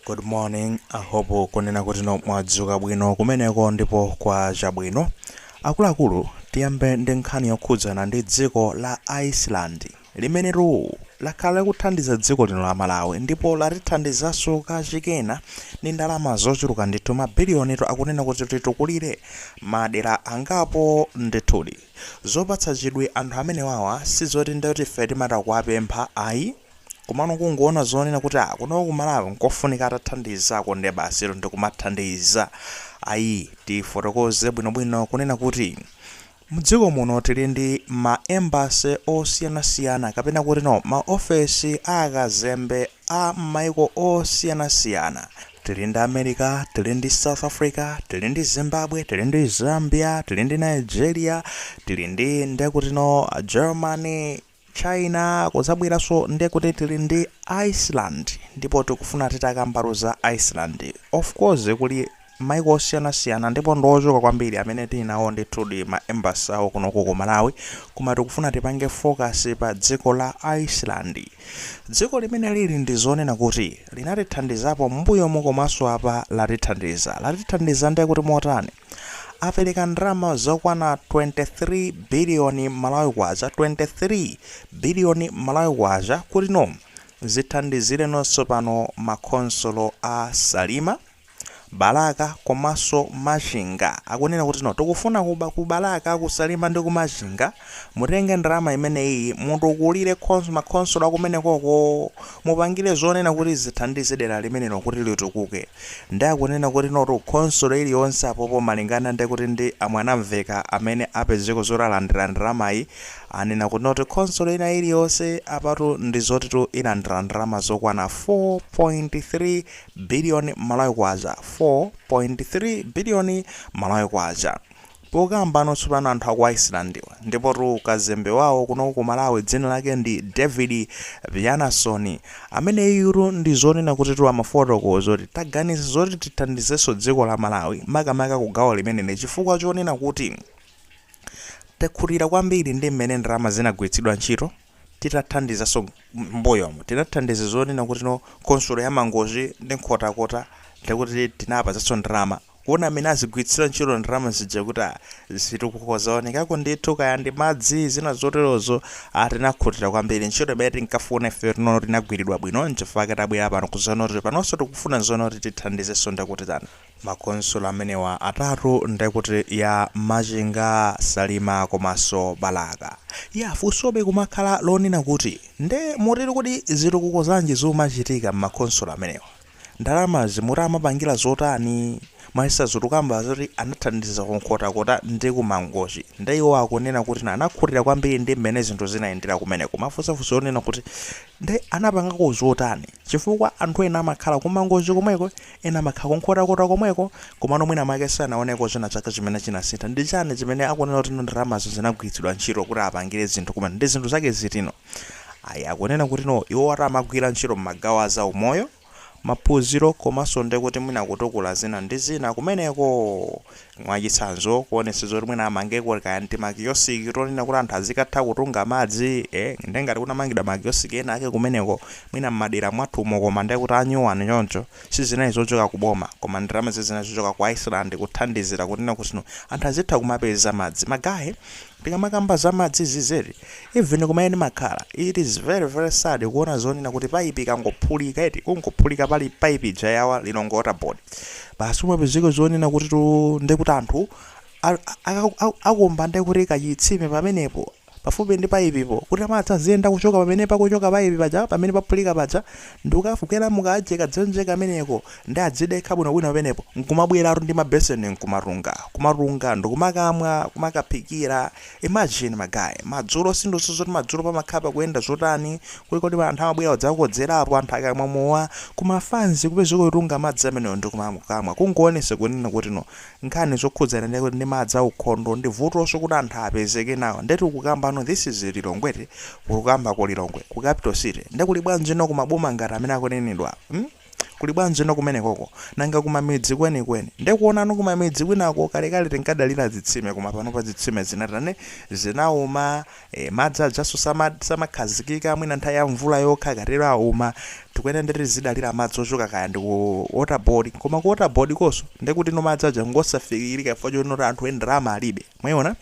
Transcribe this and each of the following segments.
Good morning, I hope kunena kuti no mwadzuka bwino kumeneko ndipo kwacha bwino. Akuluakulu tiyambe ndi nkhani yokhudzana ndi dziko la Iceland limenetu lakhala likuthandiza dziko lino la Malawi ndipo latithandizaso kachikena ndi ndalama zochuluka ndithu mabiliyonitu akunena kuti titukulire madera angapo ndithudi. Zopatsa chidwi anthu amenewawa sizoti ndoti ife timata kuwapempha ayi. Komano kungoona zonena kuti ah, kunoko ku Malawi nkofunika atathandizako nde basitu ndikumathandiza ayi tifotokoze bwinobwino kunena kuti mdziko muno tili ndi ma embassy osiyanasiyana kapena kuti no maofesi a akazembe a mmaiko osiyanasiyana tili ndi America, tili ndi South Africa, tili ndi Zimbabwe, tili ndi Zambia, tili ndi Nigeria, tili ndi ndekuti no Germany, China kuzabweraso ndekuti tili ndi Iceland ndipo tikufuna titakambako za Iceland of course kuli maiko osiyanasiyana ndipo ndi ochuluka kwambiri amene tili nawo ndithudi ma embassy awo kunoko ku Malawi koma tikufuna tipange focus pa dziko la Iceland dziko limene lili ndizonena kuti linatithandizapo mbuyomu komaso apa latithandiza latithandiza ndekuti motani apereka ndalama zokwana 23 biliyoni malawi kwacha 23 biliyoni malawi kwacha kuti no zithandizire no tsopano makhonsolo a Salima Balaka komanso Machinga akunena kuti no tikufuna ku Balaka ku Salima ndi ku Machinga Mutenge ndalama imeneyiyi mutukulire khons makhonsolo akumenekoko mupangire zonena kuti zithandize dera limenelo kuti litukuke nde akunena kuti notu khonsolo iliyonse apopo malingana ndi kuti ndi a Mwanamveka amene apezeko zoti alandira ndalamayi anena kuti notu khonsolo ina iliyonse apatu ndi zotitu ilandira ndalama zokwana 4.3 billion Malawi Kwacha 4.3 billion Malawi Kwacha Pokamba no tsopano anthu a ku Icelandiwa ndipotu kazembe wawo kunoko ku Malawi dzina lake ndi David Bjarnason ameneyutu ndi zonena kutitu amafotokoza kuti taganiza zoti tithandizenso dziko la Malawi makamaka ku gawo limeneli chifukwa chonena kuti takhutira kwambiri ndi mmene ndalama zinagwiritsidwa ntchito Titathandizanso m'mbuyomu, tinathandiza zonena kuti no khonsolo ya Mangochi ndi Nkhotakota ndi kuti tinawapatsanso ndalama kuona mmene azigwiritsira ntchito ndalama zija kuti a, zitukuko zaonekako ndithu kaya ndi madzi, zina zoterozo, a tinakhutira kwambiri. Ntchito imene tinkafuna ifeyo tinaona kuti inagwiridwa bwino n'chifukwa chake tabwera pano kudzaona kuti panonso tikufuna zonena kuti tithandizenso ndekuti tani. Makhonsolo amenewa atatu nde kuti ya Machinga, Salima komanso Balaka. Ya funsobe kumakhala lonena kuti nde muti kodi zitukuko zanji zumachitika m'makhonsolo amenewa? Ndalamazi muti amapangira zotani? Mwachitsanzo tukamba zoti anathandiza ku Nkhotakota ndi ku Mangochi nde iwo akunena kuti anakhutira kwambiri ndi mmene zinthu zinayendera kumeneko. Kumafunsa funso lonena kuti nde anapangako zotani? Chifukwa anthu ena amakhala ku Mangochi komweko Ena amakhala kunkhotakota komweko, komano mwina mwake sanaoneko china chake chimene chinasintha. Ndi chani chimene akunena kuti no ndalamazo zinagwiritsidwa ntchito kuti apangire zinthu kumene? Ndi zinthu zake ziti no? Ayi, akunena kuti no iwowatu amagwira ntchito m'magawo a za umoyo, maphunziro komanso ndekuti mwina kutukula zina ndi zina kumeneko! Mwachitsanzo, kuonetsetsa zoti mwina amangeko kaya n'timakiosiki tonena kuti anthu azikatha kutunga madzi, eh, nde ngati kunamangidwa makiosiki ena ake kumeneko, mwina m'madera mwathumo koma ndekuti anyuwani choncho, sizinali zochoka ku boma, koma ndalama zija zinali zochoka ku Iceland kuthandizira kunena kuti anthu azitha kumapeza madzi. Magaye. Tikamakamba za madzi cz even kumene ndimakhala it is very very sad kuona zonena kuti pipe ikangophulika eti kungophulika pali pipe ija ya wa Lilongwe water board basi kumapezeka zonena kutitu ndekuti anthu akumba ndekuti kachitsime pamenepo pafupi ndi pipe po kuti madzi aziyenda kuchoka pamenepa kuchoka pipe paja pamene paphulika paja ndikukafikira mu kajaka dzenje kameneko Nde adzidekha bwinobwino pamenepo nkumabweratu ndi ma beseni nkumatunga, kumatunga ndikumakamwa, kumakaphikira, imagine ma guy, madzulo siindunso zoti madzulo pamakhala pakuyenda zotani, kuli koti anthu amabwera kudzakodzerapo anthu akamwa mowa, kuma fanzi kupezeka kutunga madzi amenewo ndikumakamwa kungoonesa kunena kuti no nkhani zokhudzana ndi ndi madzi aukhondo ndi vutoso kuti anthu apezeke nawo nde tikukamba no this is Lilongwe eti, kukamba ku Lilongwe, ku capital city nde kuli bwanji no ku maboma ngati amene akunenedwawa? Hmm? Kuli bwanji no kumenekoko? Nanga kumamidzi kwenikweni? Nde kuona no kumamidzi kwinako kalekale tinkadalira zitsime koma panopa zitsime zinatani? Zinauma. Eeh madzi ajanso samakhazikika mwina nthawi ya mvula yokha akatero auma. Tikuyenera nde tizidalira madzi ochoka kaya ndi ku water board koma ku water board konkonso ndekuti no madzi aja ngosafikirika chifukwa choti anthu eee ndalama alibe. Mwaiona?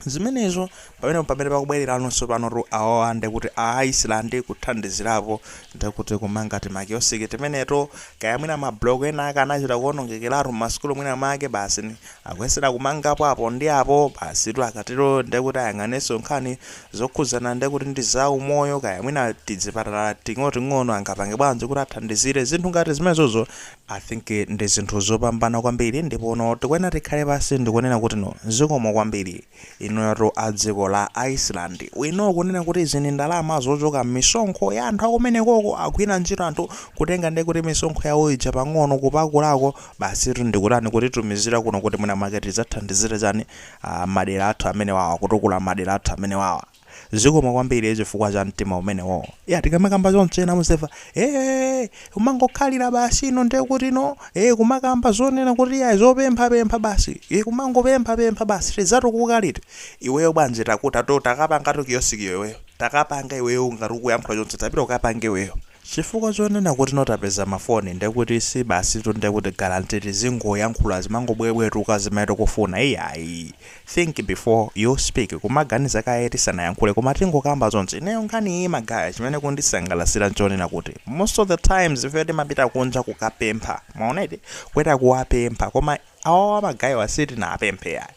zimenezo pamenepo pamene pakubwerera ano tsopano tu awowa ndekuti a iceland kuthandizirapo ndekuti kumanga timakiosiki timeneto kaya mwina mabloko ena ake anachita kuonongekeratu m'masukulu mwina make basi ni- akuyesera kumangapo apo ndi apo basi tu akatero ndekuti ayang'anenso nkhani zokhudzana ndekuti ndi za umoyo kaya mwina tizipatala ting'onoting'ono angapange bwanji kuti athandizire zinthu ngati zimenezozo I think ndi zinthu zopambana kwambiri ndipo no tikuyenera tikhale pansi ndikunena kuti no zikomo kwambiri inuyotu a dziko la Iceland we know kunena kuti izi ndi ndalama zochoka m'misonkho ya anthu akumenekoko agwira ntchito anthu kutenga ndiye kuti misonkho yawo ija pang'ono kupakulako basitu ndikutani kutitumizira kuno kuti mwina mwake zidzathandizire chani ah, madera athu amenewawa kutukula madera athu amenewawa Zikomo kwambiri chifukwa cha mtima umenewo. Ya tikamakamba choncho ena muziva ee kumangokhalira basi ino ndiye kuti no ee kumakamba zonena kuti ya zopempha pempha basi ee kumangopempha pempha basi tidzatukuka liti iweyo bwanji takuta to takapanga to kiyosikiyo iweyo takapanga iweyo ngati ukuyankhula choncho tapita ukapange iweyo chifukwa chonena kuti no tapeza mafoni ndiye kuti si basi tu ndiye kuti guarantee tizingoyankhula kumangobwebwetuka zimene tikufuna iyayi think before you speak kumaganiza kaye tisanayankhule koma tingokamba zonse ineyo nkhani iyi magaye chimene kundisangalasira nchonena kuti most of the times ife timapita kunja kukapempha mwaona eti kueta kuwapempha koma awawa magayewa sitinapemphe iyayi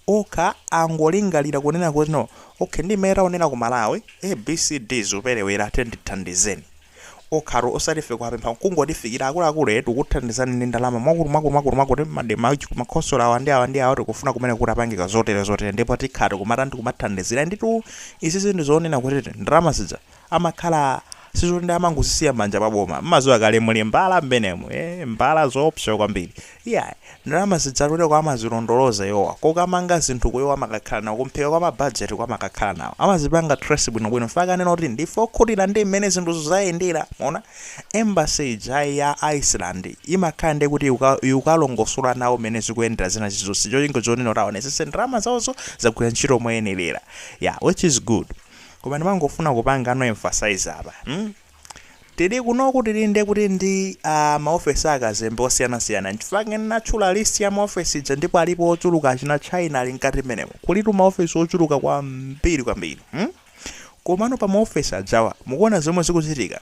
okha angolingalira kunena kuti no okay ndi mmene taonera ku malawi a b c d zoperewera tiyeni tithandizeni okhatu osati ife kuwapempha kungotifikira akuluakulu eh, tikuthandizani ndi ndalama mwakuti mwakuti mwakuti mwakuti m'makhonsolo awa ndi awa ndi awa tikufuna kumene kutapangika zotere zotere ndipo tikhala tikumatani tikumathandizira nditu izizi ndi zoonena kuti ti- ndalama zija amakhala sizoti ndi amangozisiya m'manja mwa boma mmadziwa kale muli mbala mmenemu eh, mbala zoopsa kwambiri Iyayi, ndalama zija zotereko amazilondoloza iwowa, kokamanga zinthu ku iwo amakakhala nawo, kumphika kwa ma budget ku amakakhala nawo, amazipanga trace bwino bwino, mpaka anena kuti ndife okhutira ndi mmene zinthuzo zayendera, mwaona? Embassy ija ya Iceland imakhala ndiye kuti ikukalongosola nawo mmene zikuyendera zina zilizonse, cholinga chonena kuti aonetsetse ndalama zawozo zagwira ntchito moyenerera, yeah, which is good, koma ndimangofuna kupangano emphasize apa, hmm. Tili kunoku tili nde kuti ndi maofesi a akazembe osiyanasiyana. Nchifukwa chake ndinatchula list ya maofesi ija ndipo alipo ochuluka achina China ali mkati mmenemo. Kulitu maofesi ochuluka kwambiri kwambiri. Hmm? Komano pa maofesi ajawa mukuona zomwe zikuchitika?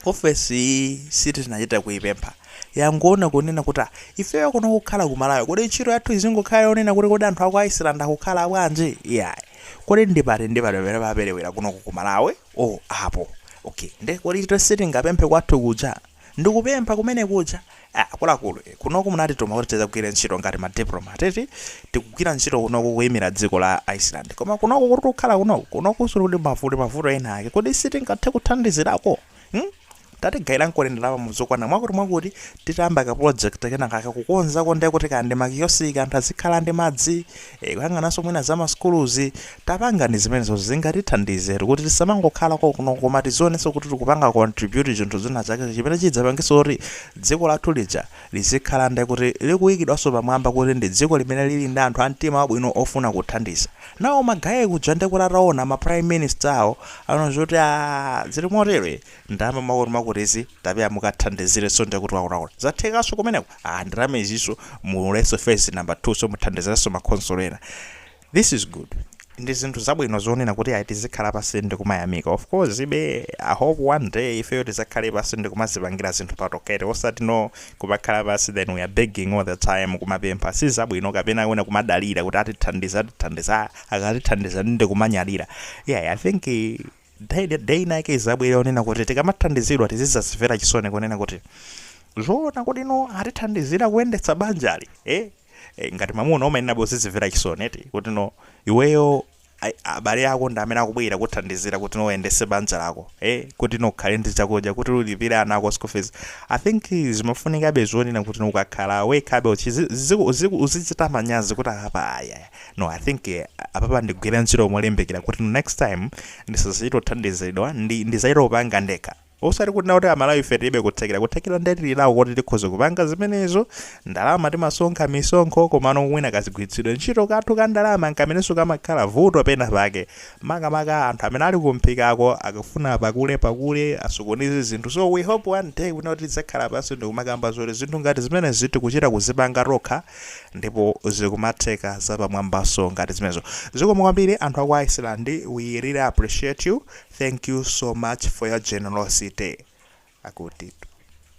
Ofesi iyi sitinachite kuipempha. Yangoona kunena kuti ah, ifeyo kuno kukhala ku Malawi, kodi ntchito yathu izingokhala yonena kuti kodi anthu a ku Iceland akukhala bwanji? Iyayi. Kodi ndi pati ndi pati pamene paperewera kunoku ku Malawi? Oh apo! Ok nde kodi ife sitingapemphe kwathu kuja? Ndikupempha kumene kuja? Ah akuluakulu eh kunoku munatituma kuti tidzagwire ntchito ngati ma diplomat eti? Tikugwira ntchito kunoku kuyimira dziko la Iceland koma kunoku kuti kukhala kunoku, kunokunso kuli mavuto ena ake kodi sitingathe kuthandizirako? Hmm? Tatigayirankoni ndalama muzokwana mwakuti mwakuti titayamba ka project kenakake kukonzako nde kuti kaya ndi ma kiosk anthu azikhala ndi madzi ee kuyang'ananso mwina za ma sukuluzi tapangani zimenezozo zingatithandizetu kuti tisamangokhala kokuno koma tizionenso kuti tikupanga contribute chinthu china chake chimene chidzapangenso kuti dziko lathu lija lizikhala nde kuti likuikidwanso pamwamba kuti ndi dziko limene lili ndi anthu a mtima wabwino wofuna kuthandiza anawo ma guy aja nde kuti ataona ma prime minister awo anaona zoti aah zili motere ndalama mwakuti mwakutizi tapeza mukathandizirenso ndiye kuti waulaula zathekanso kumeneko aah ndalama izinso mu ulenso phase number 2 so muthandizirenso ma khonsolo ena this is good ndi zinthu zabwino zonena kuti ayi tizikhala pansi ndi kumayamika of course but i hope one day ifeyo tizakhale pansi ndi kumazipangira zinthu patokete osati no kumakhala pansi then we are begging all the time kumapempha si zabwino kapena wena kumadalira kuti atithandiza atithandiza akatithandiza ndi kumanyadira yeah i think eh, day, day inayake izabwera onena kuti tikamathandizidwa tizizazimvera chisoni kunena kuti zoona kuti no atithandizira kuyendetsa banjali eh? eh, ngati mamuna umayenera kuzizimvera chisoni eti kuti no iweyo ai- abale ako ndi amene akubwera kuthandizira kuti no uyendese banja lako eh, kuti no ukhale ndi chakudya kuti ulipire ana ako school fees i think zimafunikabe zonena kuti ukakhala wekhabe uchizi- ziku- ziku- uzichita manyazi kuti apa ayaya No, I think eh, apapa ndigwire ntchito molimbikira kuti no next time ndisazachite kuthandizidwa ndi ndizachite kupanga ndekha. Osati kunena kuti Amalawi ife tilibe kuthekera. Kuthekera ndiye tili nako koti tikhoza kupanga zimenezo. Ndalama timasonkha misonkho komano mwina kazigwiritsidwe ntchito kathu ka ndalama nkamenenso kamakhala vuto pena pake. Makamaka anthu amene ali kumphikako akufuna pakule pakule asokoneze zinthu. So we hope one day kunena kuti tidzakhala pansi ndikumakamba zoti zinthu ngati zimenezi tikuchita kuzipanga tokha. ndipo zikumatheka zapamwambaso ngati zimenezo zikomo kwambiri anthu aku Iceland we really appreciate you thank you so much for your generosity akutitu.